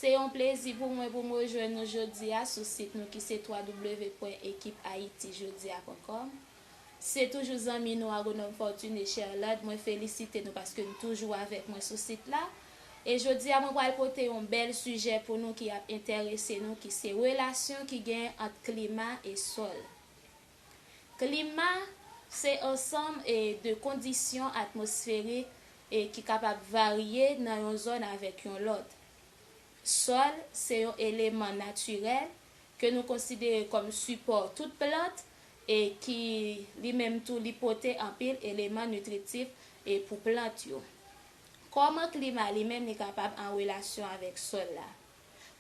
Se yon plezi pou mwen pou m rejwenn nou jodi a sou sit nou ki se www.ekiphaitijodiacom. Se toujou zanmi nou Agronome Fortuné Cherlande, mwen felisite nou paske n toujou avèk mwen sou sit la. E jodi a mwen pral pote yon bèl sijè pou nou ki ap entèrese nou ki se relasyon ki genyen ant klima e sòl. Klima se ansanm de kondisyon atmosferik ki kapab varye nan yon zòn avèk yon lòt. Sòl se yon eleman natirèl ke nou konsidere kòm sipò tout plant e ki li menm tou li pote anpil eleman nitritif pou plant yo. Kòman klima li menm li kapab an relasyon avèk sòl la?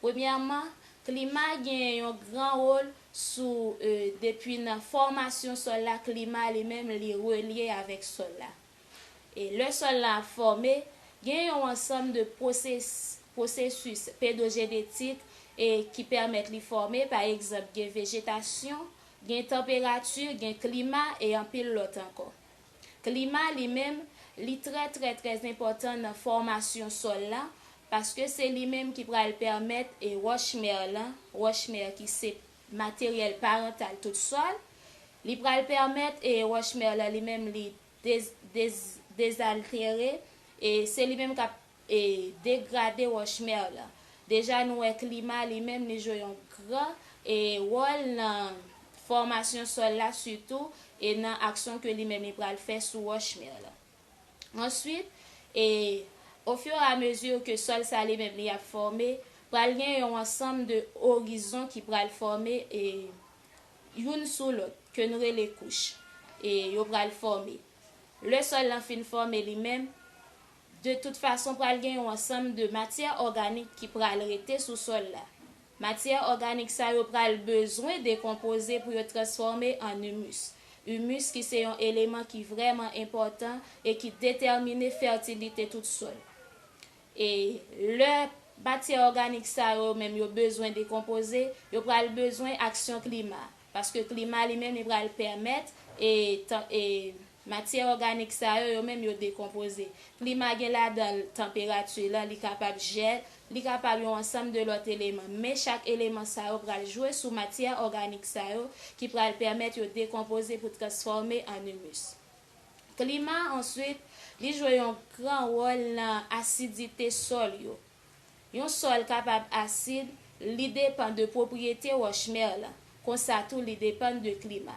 Premyèman, klima genyen yon gran wol sou depi nan fòmasyon sòl la klima li menm li relye avèk sòl la. E lè sòl la ap fòme, gen yon ansanm de pwosesis pedojenetik ki pèmèt li fòme, pa egzanp gen vejetasyon, gen tanperati, gen klima e anpil lòt ankò. Klima li menm, li trè trè trè enpòtan nan fòmasyon sòl la, paske se li menm ki pral pèmèt e wòch mère lan, wòch mère ki se materyèl parantal tout sòl, li pral pèmèt e wòch mère lan li menm li dez, dez, dezaltere e se li menm k ap. E degrade wòch mer lan. Deja nou wè klima li menm li jwe yon gran e wòl nan fòmasyon sòl la sitou e nan aksyon ke li menm li pral fè sou wòch mer lan. Answit e o fur et à mesure ke sòl sa li menm li ap fòme pral gen yon ansanm de orizon ki pral fòme e youn sou lòt ke nou rele kouch e yo pral fòme. Le sòl lan fin fòme li menm. De tout fason pral gen yon ansanm de matyè òganik ki pral rete sou sòl la. Matyè òganik sa yo pral bezwen dekonpoze pou yo transfòme an humus. Humus ki se yon eleman ki vrèman enpòtan e ki detèmine fètilite tout sòl. E lè matyè òganik sa yo menm yo bezwen dekonpoze, yo pral bezwen aksyon klima. Paske klima li menm li pral pèmèt e Matyè òganik sa yo, yo menm yo dekonpoze. Klima gen ladan l tanperati lan, li kapab jèl, li kapab yon ansanm de lòt eleman. Men chak eleman sa yo pral jwe sou matyè òganik sa yo ki pral pèmèt yo dekonpoze pou transfòme an imus. Klima answit, li jwe yon gran wòl lan asidite sòl yo. Yon sòl kapab asid, li depan de pwopriyete wòch mè lan, konsa tou li depan de klima.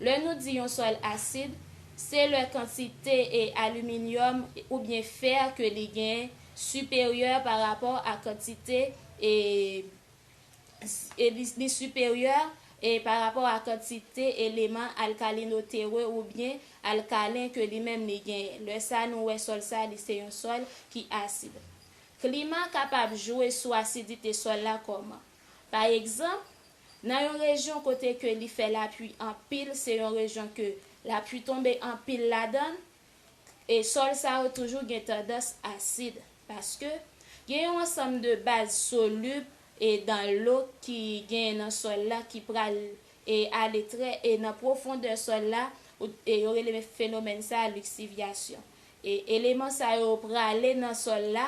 Lè nou di yon sòl asid, se lè kantite e aliminyòm oubyen fè ke li gen siperyè pa rapò a kantite e e li li siperyè e pa rapò a kantite eleman alkalinotere oubyen alkalen ke li menm li genyen. Lè sa nou wè sòl sa li se yon sòl ki asid. Klima kapab jwe sou asidite sòl la kòman? Pa egzanp, nan yon rejyon kote ke li fè lapui anpil se yon rejyon ke lapui tonbe anpil ladann, E sòl sa yo toujou gen tandans asid paske gen yon ansanm de baz solib e dan lo ki genyen nan sòl la ki pral e ale trè e nan pwofondè sòl la e yo rele fenomèn sa liksivyasyon. E eleman sa yo prale nan sòl la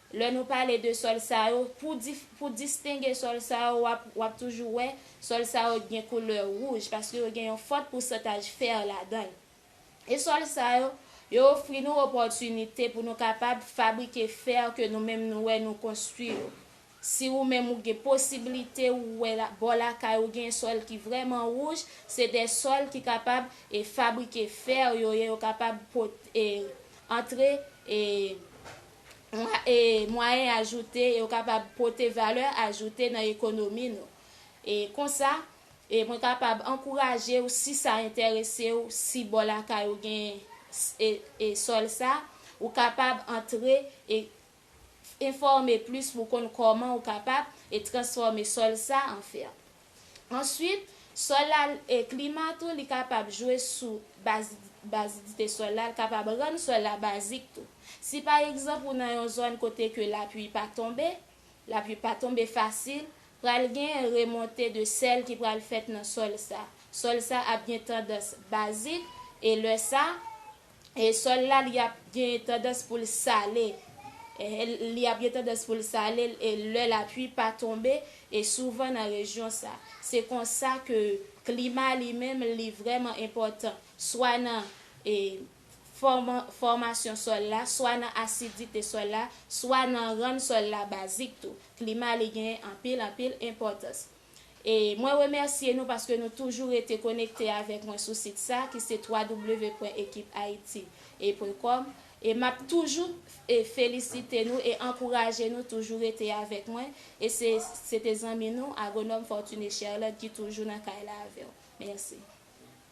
Lè nou pale de sòl sa yo, pou distenge sòl sa yo, w ap toujou wè sòl sa yo gen koulè wouj, paske yo gen yon fòt pousantaj fè ladan l. E sòl sa yo, yo ofri nou opòtinite pou nou kapab fabrike fè ke nou menm nou wè nou konstwi yo. Si ou menm ou gen posibilite ou wè bò lakay ou gen sòl ki vrèman wouj, se de sòl ki kapab fabrike fè yo ye, yo kapab antre. mwayen ajoute yo kapab pote valè ajoute nan ekonomi nou. E konsa, mwen kapab ankouraje ou si sa enterese ou, si bò lakay ou gen sòl sa, ou kapab antre e enfòme plis pou w konn kòman ou kapab transfòme sòl sa an fèm. Answit, sòl la e klima tou li kapab jwe sou bazidite sòl la, l kapab rann sòl la bazik tou. Si pa egzanp ou nan yon zòn kote ke lapui pa tonbe, lapui pa tonbe fasil, pral genyen remonte de sèl ki pral fèt nan sòl sa. Sòl sa ap gen tandans bazik e lè sa, E sòl la li ap gen tandans pou l sale li ap gen tandans pou l sale l e lè lapui pa tonbe e souvan nan rejyon sa. Se konsa ke klima li menm li vrèman enpòtan swa nan e fòman fòmasyon sòl la, swa nan asidite sòl la, swa nan rann sòl la bazik tou. Klima li gen anpil anpil enpòtans. E mwen remèsye nou paske nou toujou rete konekte avèk mwen sou sit sa ki se www.ekiphaiti. Pwen kòm e map toujou e felisite nou e ankouraje nou toujou rete avèk mwen e se se te zanmi nou Agronome Fortuné Cherlande ki toujou nan kay la avèw. Mèsi.